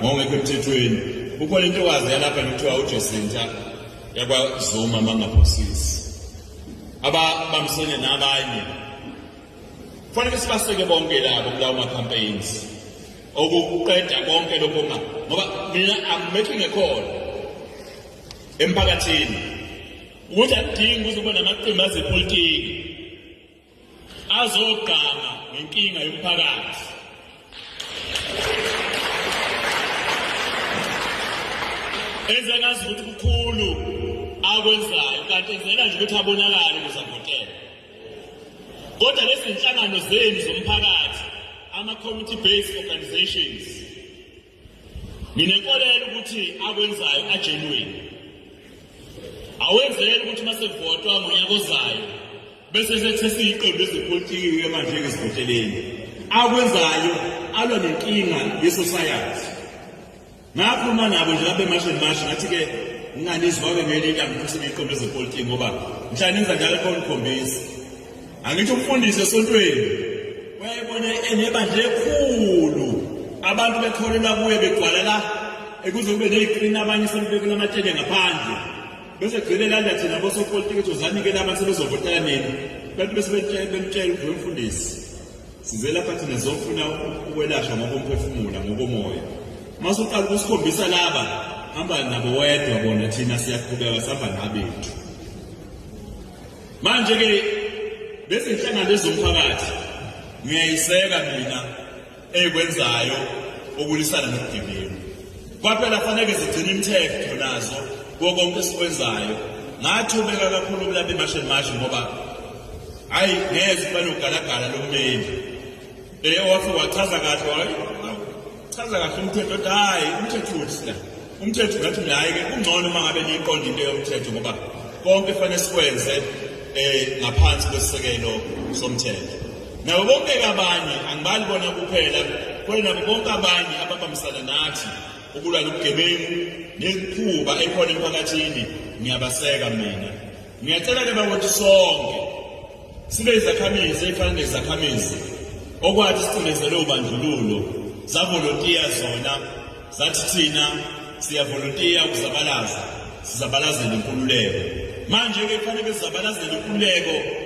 ngokungekho emthethweni kukhona intokazi yalapha nekuthiwa uJesinta yakwaZuma mangaphosisi ababambisene nabanye kufanele sibaseke bonke labo kulawo ma-campaigns okuqeda konke lokho ma ngoba mina I'm making a call emphakathini ukuthi akudingi ukuthi ube namaqembu azepolitiki azogqama ngenkinga yomphakathi enze ngazi ukuthi kukhulu akwenzayo kanti enzela nje ukuthi abonakale kuzavotela kodwa lezi nhlangano zenu zomphakathi ama-community based organizations Nginenkolelo ukuthi akwenzayo ajenweni. Awenzele ukuthi masevotwa ngonyaka ozayo bese sethesa iqembu lezepolitiki manje ngezivoteleni. Akwenzayo alwa nenkinga yesociety. Ngakhuluma nabo nje lapha emashini mashi ngathi ke nginganizwa-ke ngelinye ilanga ukuthi iqembu lezepolitiki ngoba mhla nenza njalo khona ukhombisa Angithi umfundisi esontweni wayebona enebandla ekhulu abantu bekholela kuye begcwalela ekuze kube neyiqina abanye sebebekela amatshele ngaphandle bese gcine landa thina bosopolitiki ukuthi uzanikela abantu sebezovotela nini abantu bese bemtshela ukuthi wemfundisi size lapha thina zofuna ukwelashwa ngokomphefumula ngokomoya uma suqala ukusikhombisa laba hamba nabo wedwa bona thina siyaqhubeka sihamba nabethu manje ke lezi nhlangano ezomphakathi ngiyayiseka mina eyikwenzayo okulwisana nobugebengu kwaphela faneke zigcine imithetho nazo kuwo konke esikwenzayo ngathobeka kakhulu kulapha emasheni mashi ngoba hhayi ngeze banogalagala lomeli Eye wathi wachaza kahle wayi. Chaza kahle umthetho ukuthi hayi umthetho uthi la. Umthetho ngathi naye ke kungcono uma ngabe niyiqonda into yomthetho ngoba konke kufanele sikwenze eh ngaphansi kwesisekelo somthetho. Nabo bonke abanye angibali bona kuphela kwena bonke abanye ababambisana nathi ukulwa lobugebengu nekhuba ekhona emphakathini ngiyabaseka mina Ngiyacela ke bakuthi sonke sibe izakhamizi efana nezakhamizi okwathi sicindezelwe ubandlululo zavolontiya zona zathi thina siyavolontiya ukuzabalaza sizabalazele inkululeko manje ke kufanele sizabalazele inkululeko